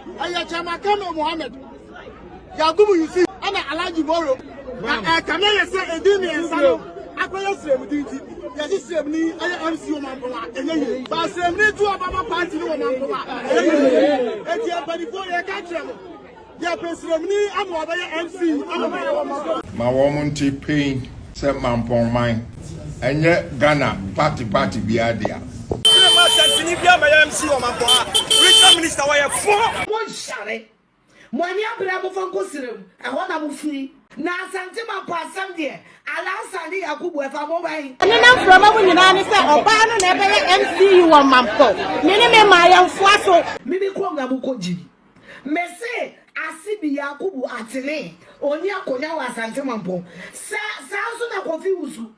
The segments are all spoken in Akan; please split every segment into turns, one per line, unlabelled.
Ɛyɛ Chairman Kano Mohammed, Yakubu Yusuf ɛna Alhaji Boro. Na ɛkame yɛ sɛ edin mmiɛnsa no akɔyɛ sremdi nti yɛsi sremni ɛyɛ MC wɔ mampɔn a ɛnyɛ yie. Ba sremni tu ɔba ma party no wɔ mampɔn a ɛyɛ yie. Eti mpanimfoɔ yɛ ka kyerɛ mo yɛ pɛ sremni ama ɔbɛyɛ MC ama mo. Ma wɔn nte pain sɛ mampɔn man. Ɛnyɛ Ghana party party biara dea. Wone ma asantini bia ma yɛ MC wɔ Mampɔha regional minister wɔyɛ fo. Mo nhyare. Mo ani abre mo fa nkɔ serem ɛhɔ na mo firi. Na Asante Mampo asɛm deɛ Alhassan ne Yakubu ɛfa mo bɛn? Ɛno na mframa mu nyinaa ne sɛ ɔbaa no na ɛbɛyɛ MC wɔ Mampɔ. Me ne me mmaayɛnfoa so. Mimi kurom na mo kɔ gyimi. Mese ase bi Yakubu Atene, ɔnni akonya wɔ Asante Mampong. Sa saa nso na Kofi Wusu.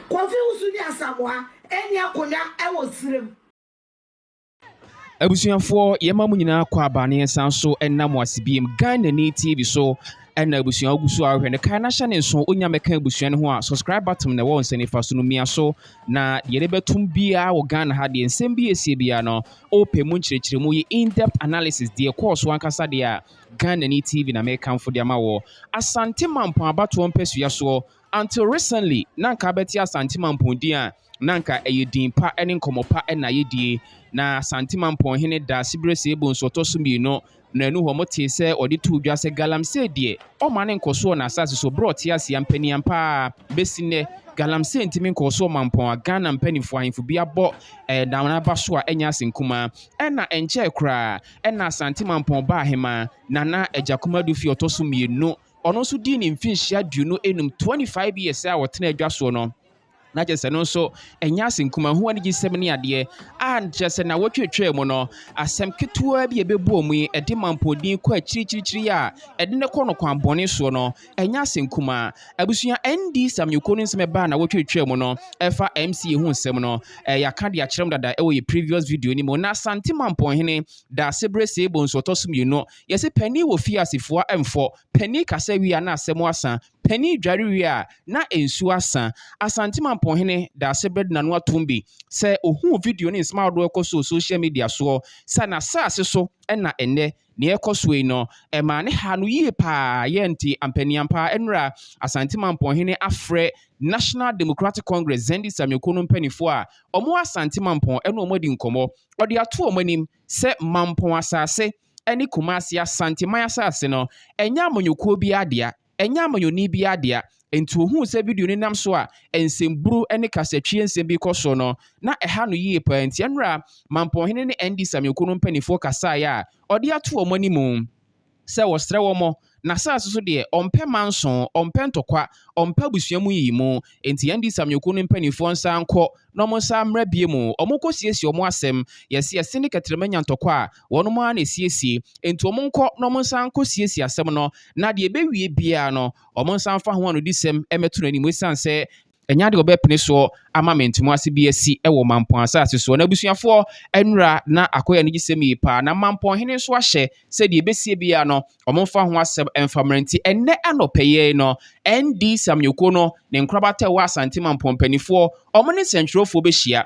Kofi Wusu ne Asamoa nni akonya wɔ Sirem. Abusuafoɔ, yɛma mo nyinaa kɔ aba ne yɛnsan so nna mo ase biem. Ghanani TV so ɛna abusua wogu so a wohwɛ no, kae na hyɛ ne nso wonya mɛka abusua no ho a, subscribe button na ɛwɔ nsa nifa so no, mia so. Na deɛ yɛde bɛtom biara wɔ Ghana ha deɛ, nsɛm bi ɛsie biara no, Wopɛ mu nkyerɛkyerɛmu yi in-depth analysis deɛ ɛkɔɔ so ankasa deɛ a, Ghanani TV na mekamfo de ama woɔ. Asante Mampong abatoɔ mpasua soɔ, until recently na anka abɛte Asante Mampong din a, na anka ɛyɛ din pa ne nkɔmmɔ pa na yɛdie. Na Asante Mampong hene Daasiberɛ Seebonsu Ɔtɔso Mmienu Na ɛno hɔ motee sɛ wɔde too dwa sɛ galamsey deɛ, ɔmma no nkɔ so wɔ n'asase so berɛ a ɔte ase ampanin ampa ara a. Bɛsi nnɛ, galamsey ntumi nkɔɔ so wɔ mampɔn a Ghana mpanimfoɔ ahemfo bi abɔ dawena aba so a ɛnyɛ asɛm kumaa. Ɛnna ɛnkyɛɛ koraa, ɛnna Asante Mampɔn Ba Ahemaa, Nana Agyakum Adu Fi Ɔtɔ So Mmienu, ɔno nso dii ne mfinhyia aduonu nnum, 25 years, a ɔtenaa dwa soɔ no. na kyerɛ sɛ no nso ɛnyɛ asenkumahu anigyesɛm ne adeɛ a kyerɛ sɛ na wɔtwetwaa mu no asɛm ketewa bi a ɛbɛbɔɔ mu yi ɛde mampɔdin kɔ akyirikyirikyiri a ɛde ne kɔ no kwan bɔne soɔ no ɛnyɛ asɛnkuma abusua nd samyoko no nsɛm ɛbaa na wɔtwetwaa mu no ɛfa mc ho nsɛm no ɛyɛ aka de akyerɛ mu dada ɛwɔ yɛ previous video no mu na asante mampɔnhene daase berɛ sɛ ɛbɔ nso ɔtɔ so mmienu yɛsɛ panin wɔ fie asefoa ɛmfɔ panin kasa wie a na asɛm asa Panin dware wie a, na nsuo asa. Asante Mamponhene da ase berɛ de n'ano atom bi sɛ ɔhuu video ne nsɛm ahodoɔ ɛkɔ so wɔ social media soɔ sɛ n'asaase so na ɛnnɛ nea ɛrekɔ soɔ yi no ɛmaa ne haa no yie pa ara yɛ nti ampaniampa nnora Asante Mamponhene afrɛ National Democratic Congress Zendi Samioko no mpanimfoɔ a wɔn wɔ Asante Mampɔn ɛne wɔn adi nkɔmmɔ. Ɔde ato wɔn anim sɛ Mampɔn asaase ne Kumasi Asanteman asase no, ɛnyɛ amanyɔkuo biara dea, ɛnyɛ amanyɔni biara dea. Enti ɔhuu sɛ video no nam so a nsɛmburu ne kasatwie nsɛm bi kɔ so no, na ɛha no yie paa. Enti ɛnora Mampɔnhene ne NDC amanyɔkuo no mpanimfoɔ kasaeɛ a ɔde ato wɔn anim sɛ ɔsrɛ wɔn N'asase so deɛ, ɔmpɛ manso, ɔmpɛ ntɔkwa, ɔmpɛ abusua mu nyiyimu. Enti yɛn de Samyuku no mpanimfoɔ nsan nkɔ na wɔn nsa mmra bio mu. Wɔnkɔsiesie wɔn asɛm. Yɛse yɛse ne kɛterɛma nya ntɔkwa a, wɔnom ara na ɛsiesie. Enti wɔn nkɔ na wɔn nsan nkɔsiesie asɛm no, na deɛ ɛbɛwie biara no, wɔn nsan mfa ho anodisɛm mmɛto n'anim, ɛsiane sɛ Ɛnyɛ ade a wɔbɛpene soɔ ama mentimu ase bi asi wɔ mampɔn asase soɔ. Na abusuafoɔ nnura na akɔyɛ anigyesɛm yie paa. Na mampɔn hene nso ahyɛ sɛ deɛ ɛbɛsie biara no, wɔmfa ho asɛm mfa mmra nti, ɛnnɛ anɔpɛ yɛi no, ND Samyuko no ne nkorabata ɛwɔ Asante mampɔn mpaninfoɔ wɔne nsɛntwerɛfoɔ bɛhyia.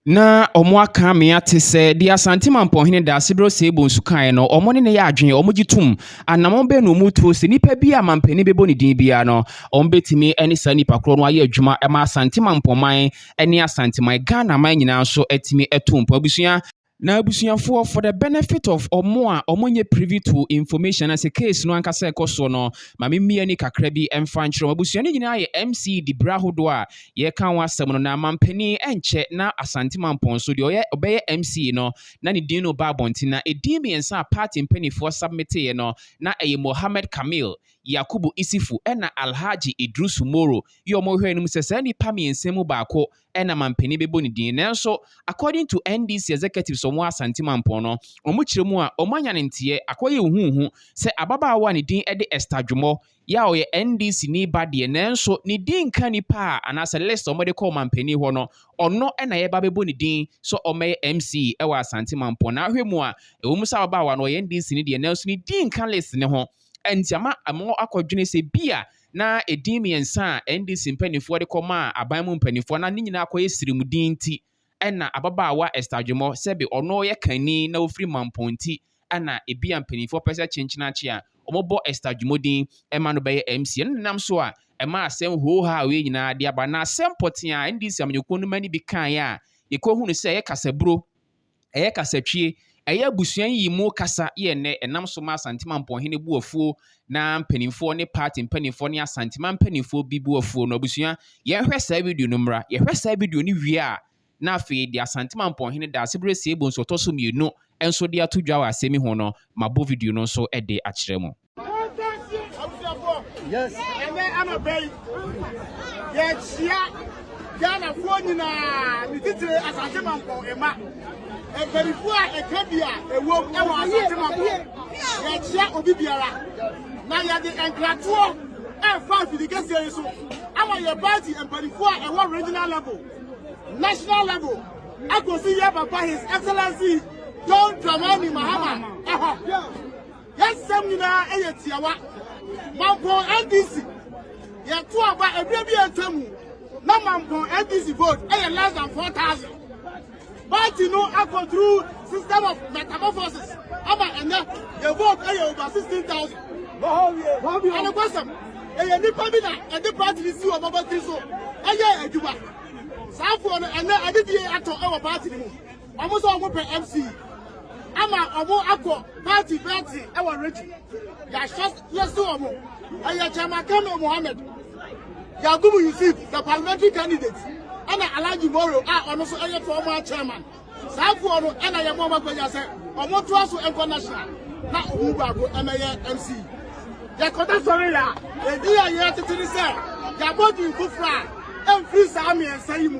na wɔaka me ate sɛ deɛ Asante Mampɔnhene da Aseberɛ Osei Bonsu kaeɛ no, wɔn ne ne yɛ adwene, wɔgye tom. Anammɔn bɛn na wɔtuo sɛ nipa bi a mampanin bɛbɔ ne din biara no, wɔbɛtumi ne saa nipa korɔ no ayɛ adwuma ma Asante Mampɔnman ne Asanteman, Ghana man nyinaa nso atumi atu mpɔn. Abusua. Na abusuafoɔ, for the benefit of wɔn a wɔnyɛ privy to information anaasɛ case no ankasa ɛkɔ soɔ no, ma me mmie ani kakra bi mfa nkyerɛ wɔn. Abusua no nyinaa yɛ MCD berɛ ahodoɔ a Yɛreka ho asɛm no, na manpanin ɛnkyɛ na Asante Mampɔn so deɛ ɔyɛ ɔbɛyɛ MCA no na ne din no reba abɔnten na ɛdin mmiɛnsa a party mpaninfoɔ submiteeɛ no na ɛyɛ Mohammed Kamil, Yakubu Isifu ɛna Alhaji Idrusu Moro. Yɛ wɔn hwɛɛ no mu sɛ saa nnipa mmiɛnsa mu baako ɛna manpanin bɛbɔ ne din nanso according to NDC executives a wɔwɔ Asante Mampɔn no wɔn kyerɛ mu a wɔn anya ne nteɛ akɔyɛ huhuhu sɛ ababaawa a ne din ɛde Esther Dwomɔ Yaw yɛ NDC ni ba deɛ nanso ne din nka nipa a anaasɛ list a wɔde kɔ ɔmanpanin hɔ no, ɔno na yɛba abɛbɔ ne din sɛ ɔmmɛyɛ MC wɔ Asante Mampɔn. Na ahwɛ mu a, ɛwɔ mu sɛ ababaawa no ɔyɛ NDC ni deɛ nanso ne din nka list no ho. Ɛnti ama ama akɔdwene sɛ bi a na edin mmiɛnsa a NDC mpanimfoɔ de kɔmaa aban mu mpanimfoɔ na ne nyinaa akɔyɛ sirem din nti, Ɛnna ababaawa Esther Dwomɔ, sɛbe ɔno yɛ kanni na ɔfiri Mampong nti, ɛnna ebia mpanimfoɔ pɛ sɛ kyenkyenakye a wɔbɔ Esther Dwomɔ din ma no bɛyɛ MC. Ɛno na ɛnam so a ɛmaa asɛm hoohaa a wei nyinaa de aba. Na asɛm pɔtee a NDC amanyɔkuo no mma no bi kaeɛ a yɛkɔhunu sɛ ɛyɛ kasaburo, Ɛyɛ kasatwie, ɛyɛ abusua nyiyimu kasa yɛ nnɛ ɛnam so ma Asante Mampɔnhene bu afuo na mpanimfoɔ ne party mpanimfoɔ ne Asantema mpanimfoɔ bi bu afuo no. Abusua, yɛnhwɛ saa video no mmra. Yɛhwɛ saa video no wie a, na afei yɛde Asante Mampɔnhene Daasebrɛ Siebonsu Ɔtɔso Mmienu nso de ato dwa wɔ asɛm yi ho no, mabɔ video no nso de akyerɛ mo. Yes. Ɛnɛ anɔpɛ yi, yɛahyia Ghanafoɔ nyinaa ne titire asase mampɔ mma. Mpanimfoɔ a ɛka bi a ɛwom wɔ asase mampɔ. Yɛahyia obi biara na yɛde nkratoɔ ɛrefa afiri kɛseɛ yi so ama yɛ party mpanimfoɔ a ɛwɔ regional level, national level, akɔsi yɛ papa his excellency John Dramani Mahama ɛhɔ. Yɛnsɛm nyinaa yɛ tiawa. Mampɔn NDC yɛto aba ɛberɛ bi atwa mu na Mampɔn NDC vote ɛyɛ less than 4,000. Party no akɔ through system of metamorphosis ama ɛnɛ yɛ vote ɛyɛ over 16,000. Anokwasɛm ɛyɛ nipa bi na ɛde party no si wɔn abatiri so ɛyɛ adwuma. Saafoɔ no ɛnɛ adedie atɔ ɛwɔ party no mu. wɔn sɛ wɔn pɛ mc ama wɔn akɔ party bɛɛti ɛwɔ regye yɛahyɛ yɛsi wɔn ɛyɛ chairman kamil mohammed yakubu yusuf the parliamentary candidate ɛna alhaji moro a ɔno nso ɛyɛ former chairman saa afoɔ no ɛna yɛn wɔn akɔnya sɛ wɔn to aso nkɔ national na wɔn baako ɛmɛyɛ mc yɛkɔda sɔre yɛ a edi a yɛ tete ne sɛ yɛabɔ dun foforɔ a ɛmfiri saa mmiɛnsa yi mu.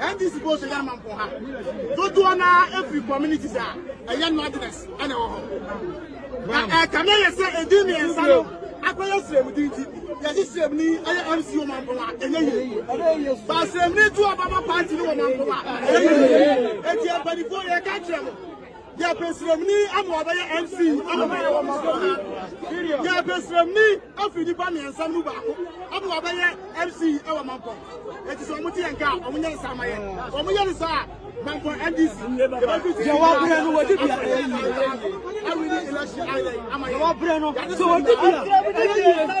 NDC bɔ so yɛ ma mpɔ ha dodoɔ no ara ɛfiri communities a ɛyɛ northerners ɛna ɛwɔ hɔ na ɛkame yɛ sɛ ɛdi mmiɛnsa no akɔyɛ srɛmudi nti yɛde srɛmuni ɛyɛ mc wɔ mampɔn a ɛnyɛ yie ba srɛmuni to ɔbaba party no wɔ mampɔn a ɛyɛ yie ɛti ɛmpanifoɔ yɛka kyerɛ mo Yɛpɛ sremni ama wabɛyɛ MC ama wayɛ wɔn so ha. Yɛpɛ sremni afiri nipa mmiɛnsa mu baako ama wabɛyɛ MC ɛwɔ mampɔn. Eti sɛ wɔn ti yɛn ka a wɔn nyɛ nsa ama yɛ. Wɔn yɛ ne saa mampɔn NDC. Yɛwɔ brɛ no wɔde bia ɛyɛ yie. Ɛwɔ ni election ayɛ ama yɛ. Yɛwɔ brɛ no sɛ wɔde bia ɛyɛ yie.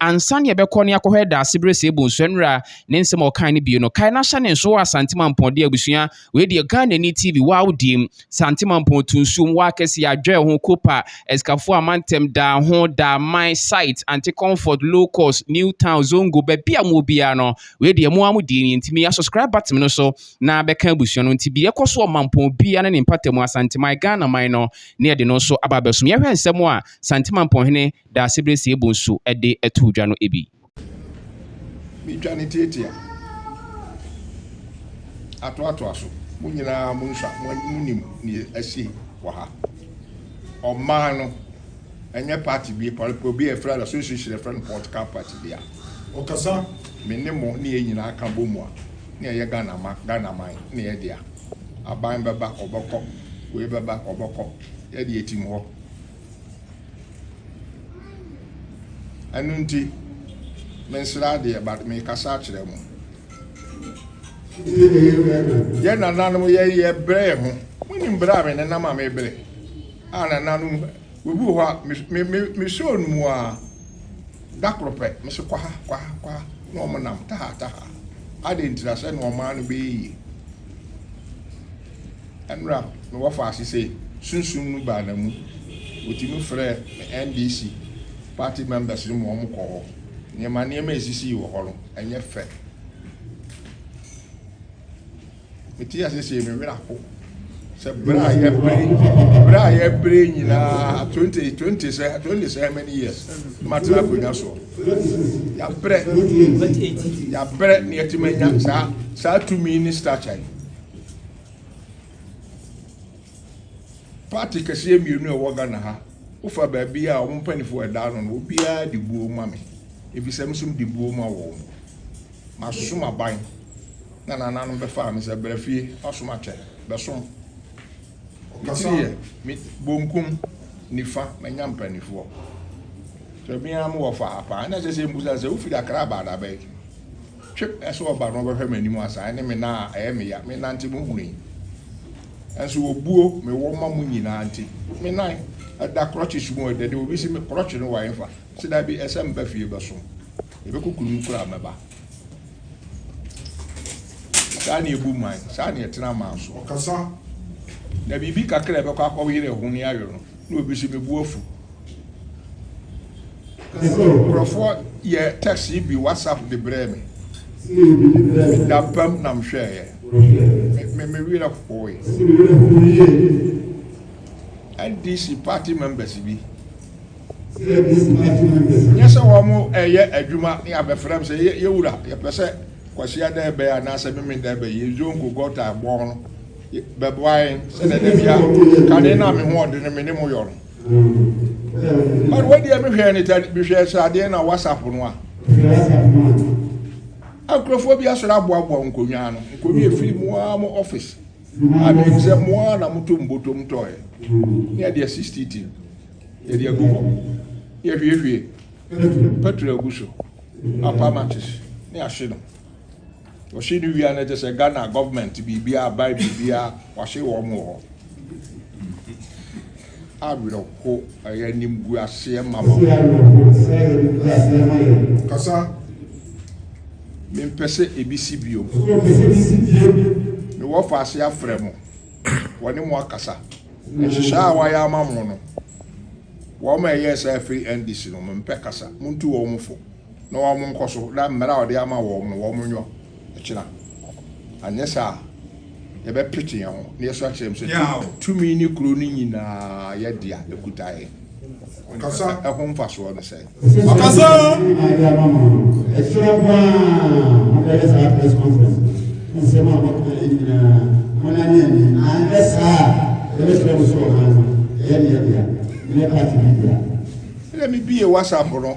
Ansa na yɛbɛkɔ na yɛakɔhwɛ Daasebrɛ Seabu Nsuanwura ne nsɛm a ɔkae no bio no, kae na hyɛ ne nsow a Sante Mampɔn de abusua. Wei deɛ Ghanani TV, wo awodiem, Sante Mampɔn to nsuom, wo akɛseɛ, adwɛɛ ho, Copa, Asikafoɔ a Mantam, Daa ho, Daa man, Site, Ante Comfort, Low Cost, New Town, Zongo, baabi a mowɔ biara no, wei deɛ mo ara mo deɛ nie, nti mia subscribe button no so na bɛka abusua no nti deɛ ɛkɔ so wɔ Mampɔn biara ne ne mpatamu, Asanteman, Ghanaman no, na yɛde no nso aba abɛsom. Yɛhwɛ nsɛm a Sante Mampɔn hene Daasebrɛ sie bo nso de too dwa no bi. Me twa ne tiatia atoatoa so. Mo nyinaa mo nhwa mo nim nea asi wɔ ha. Ɔman no ɛnyɛ party bi pɔlpɔ bi a ɛfrɛ no Asoesuehyire ɛfrɛ no political party dea. Ɔkasa me ne mo ne yɛn nyinaa ka bɔ mu a na ɛyɛ Ghana ma Ghana man ne yɛ dea. Aban bɛba ɔbɛkɔ wei bɛba ɔbɛkɔ yɛ deɛ ɛtim hɔ. ɛno nti mensrɛ adeɛ but mekasa akyerɛ mo yɛ nananom yɛyɛ berɛ yɛ ho monim berɛ a me nenam a mebrɛ a nananom obi wɔ hɔ a mesɛ ɔnum a da koro pɛ mese kwaha kwaha kwaha na ɔmo nam taha taha adɛn ntira sɛ na ɔmaa no bɛyɛ yie Mmerɛ a mewɔ faase sei, sunsum no baa namu, wɔtumi frɛɛ me NDC party members no ma wɔn kɔɔ hɔ. Nneɛma nneɛma a ɛsisii wɔ hɔ no, ɛnyɛ fɛ. Mete ase sei, me werɛ apo sɛ berɛ a yɛbere berɛ a yɛbere nyinaa twenty twenty sɛ twenty sɛ how many years matena akonnwa soɔ yɛabrɛ yɛabrɛ na yɛatumi anya saa saa tumi ne stature yi Party kɛseɛ mmienu a ɛwɔ Ghana ha, wofa baabi a wɔn mpanimfoɔ ɛda ano no, obiara de buo ma me. Efisɛ me nso mede buo ma wɔn. Masoso m'aban na nananom bɛfaa me sɛ bra fie, wasom akyɛ, bɛsom. Metiri yɛ, me bonkum, nifa, manya mpanimfoɔ. Sɛ me ara mewɔ faa paa, na ɛsɛ sɛ mbusa sɛ wofiri Accra aba adabɛn? Twe pɛ sɛ ɔba na ɔbɛhwɛ m'anim asa, ɛne me nan a ɛyɛ me ya, me nante mo hunu yi. Nanso obuo mewɔ ma mo nyinaa nti, me nan da krɔkyes mu o, ɛdɛ de obi se me krɔkye no wa ɛmfa, mese dabi, ɛsɛ meba fie bɛsom, yɛbɛkɔ kuro mu koraa mɛba. Saa ne ɛbu man, saa ne ɛtena man so. Ɔkasa. Na biribi kakra a ɛbɛkɔ akɔyere ɛho ne ayɔ no. Na obi se me bo afu. Nkurɔfoɔ yɛɛ text yi bi WhatsApp de brɛɛ me. Dampam na mehwɛeɛ. Me werɛ hooe. NDC party members bi. Nyɛ sɛ wɔn ɛyɛ adwuma ne abɛfrɛ m sɛ yɛwura yɛpɛ sɛ Kwasi Adan bɛyɛ anaasɛ Memenda bɛyɛ, yɛn zongo gɔta bɔn no Bɛboa yɛn sɛdeɛ da biara kane no a me ho ɔdene me ne mo yɔ no. But wadeɛ mehwɛɛ ne ta mehwɛɛ sradeɛ na WhatsApp no a. Nkurɔfoɔ bi asɔre aboaboa nkonnwa ano. Nkonnwa efiri mu ara mo office. A menim sɛ mo ara na moto mbotom tɔɔɛ. Ne yɛde asi stiti. Yɛde agu hɔ. Yɛhwiehwie. Petro agu so. Apamatis ne ahye no. Ɔhye no wia no kyesɛ Ghana government biribiara buy biribiara wahye wɔn wɔ hɔ awerɛho ɛyɛ animguaseɛ ma wɔn. Ɛyɛ awerɛho sɛ ɛyɛ animguaseɛ ma yɛn. Kasa mempɛ sɛ ebi si bio. Ɛfiri ɔpɛ sɛ ebi si bio. Mewɔ faase afrɛ mo wɔne mo akasa. Nhyehyɛɛ a wɔayɛ ama mo no wɔn a ɛyɛɛ saa firi NDC no mempɛ kasa montu wɔn fo. na wɔn nkɔso na mmara a ɔde ama wɔn no wɔn nyɔ ɛkyena anyɛ saa a yɛbɛpete yɛn ho na yɛso akyerɛ mu sɛ tumi ne kuro no nyinaa yɛ dea ɛkuta yɛn ɛho mfasoɔ no sɛ ɔkasa ɛkyerɛ paa mobɛyɛ saa press conference nsɛm a wɔka yɛ nyinaa monane ani anyɛ saa a yɛbɛkyerɛ mo so ɔman no ɛyɛ ne yɛ dea ne yɛ party bi dea ɛdɛ mebie whatsapp no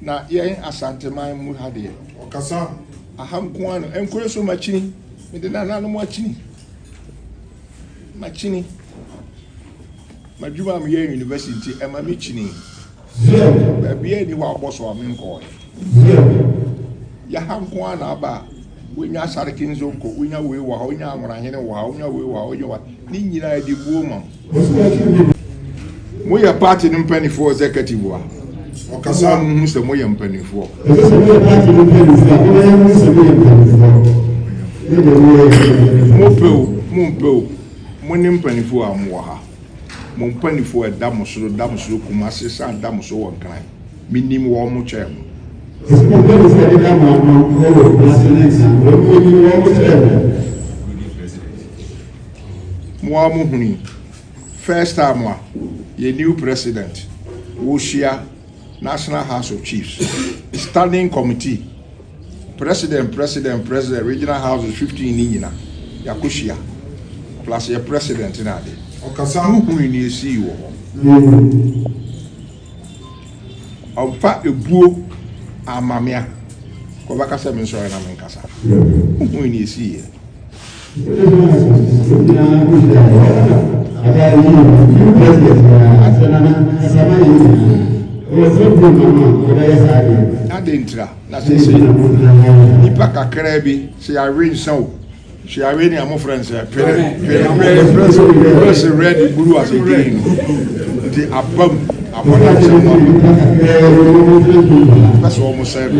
Na yɛn Asanteman mu ha deɛ. Ɔkasa. Aha nko ara no. Ɛnkɔɛ so makyini. Mede nananom akyini. Makyini. M'adwuma a meyɛ university nti ɛma me kyini. Baabi a ɛni hɔ abɔ so a menkɔɔɛ. Yaha nko ara na aba a wonya Asareke Nzonko, wonya wei wɔ ha, wonya Anworahene wɔ ha, wonya wei wɔ ha, wonya wɔ ha. Ne nyinaa ɛde buo ma. Moyɛ party no mpanimfoɔ executive a ɔkasa a muhu sɛ moyɛ mpanimfoɔ. Ɛsɛ sɛ moyɛ party no mpanimfoɔ a moyɛ muhu sɛ moyɛ mpanimfoɔ. Ne deɛ moyɛ yɛ mpanimfoɔ. Mopɛ o, mompɛ o, mo ne mpanimfoɔ a mowɔ ha. Mo mpanimfoɔ a ɛda mo soro, da mo soro Kumasi san da mo so wɔ Nkran. Menim wɔn, mo kyɛn mo. Ɛsɛ sɛ mo mpanimfoɔ a ɛdeda mo ano wɔ Kumasi ne Nkran, wɔn mo anim, wɔn mo kyɛn mo. mo ara mo hunu yi first time a yɛ new president wɔhyia national house of chiefs standing committee president president president regional houses 15 ne nyina yɛakɔhyia plus yɛ president no ade mo hunu ne ɛsii wɔ hɔ ɔmfa ebuo amamea kɔbɛka sɛ me nsɔre na menkasa mo hunu ne ɛsii yɛ Adɛn ntira na seesei nnipa kakraa bi sɛ yɛawe nsã o sɛ yɛawe ne a mofrɛ nsɛ pere pere pere pere sɛ red buru ase green nti abam Wɔn a wɔhyɛ wɔn akodeɛ no pɛ sɛ wɔsɛe me.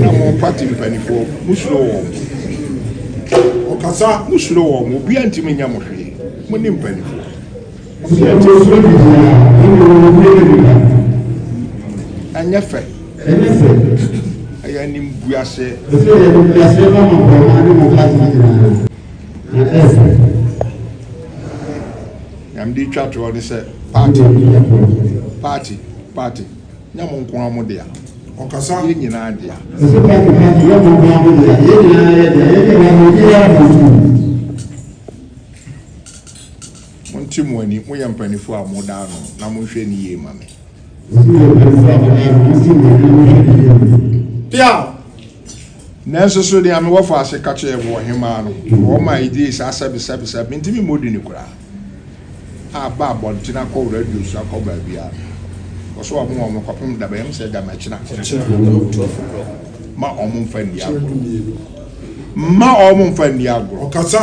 Na mo party mpanimfoɔ, mosuro wɔn. Wɔkasa, mosuro wɔn. Obiara ntumi nyɛ mo hwee. Mo ne mpanimfoɔ. Ɛnyɛ fɛ. Ɛyɛ animguaseɛ. Nea mede retwa toɔ ne sɛ party party party nyɛ mo nko ara mo dea, yɛn nyinaa dea. Ɛsɛ party party nyɛ mo nko ara mo dea, yɛn nyinaa yɛ dea, yɛn nyinaa mo dea yɛ mo dea. Monte mo ani, moyɛ mpanimfoɔ a moda ano na monhwɛ no yie ma me. Sɛ moyɛ mpanimfoɔ a moda ano, monte mo ani na monhwɛ no yie ma me. Piaw! Nanso so nea me wɔfo ase ka kyerɛɛ me wɔ Hemmaa no hɔ ma egyee saa sɛbesɛbe sɛ mintumi mmɔ din no koraa a, ba abɔnten akɔ radio so akɔ baabiara no, wɔsɔ wɔn wɔn kɔpem da bɛn mu sɛ damakyina mma wɔn mfa nni agorɔ. Mma wɔn mfa nni agorɔ. Ɔkasa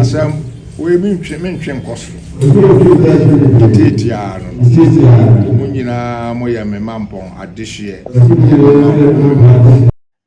Asɛm wei mentwe mentwe nkɔ so Tete ara no no Mo nyinaa moyɛ me mampɔn adehyeɛ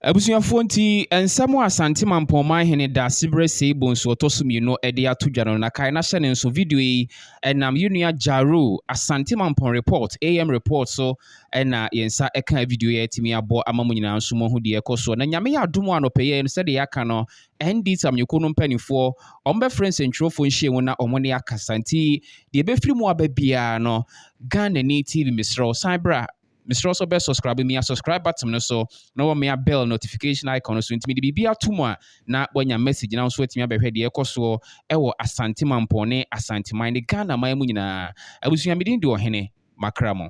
Abusuafoɔ nti nsɛm a Asante Mampɔn Manhene Daasebrɛ Sei Bonsu Ɔtɔ So Mmienu de ato dwa no na kae na hyɛ no nso Video yi ɛnam yɛn nua Jaro, Asante Mampɔn Report, AM Report, so na yɛn nsa kaa video yi a atumi abɔ ama mo nyinaa nso moahu deɛ ɛkɔ soɔ na nyame yɛ adom a anɔpɛ yɛ no sɛdeɛ yɛaka no ND Tamyoko no mpanimfoɔ wɔbɛfrɛ nsɛntwerɛfoɔ nhyia mu na wɔn ne akasa nti deɛ ɛbɛfiri mu aba biara no Ghana ni TV mesrɛ wo san bra mesrɛ wo sɛ wobɛ subscribe mia subscribe button no so na wɔmea bell notification icon no so nti mede biribi ato mu a na wanya message na wo nso watumi abɛhwɛ deɛ ɛkɔ soɔ ɛwɔ Asante Mampɔn ne Asanteman ne Ghana man mu nyinaa. Abusua, me din de Ɔhene, makra mo.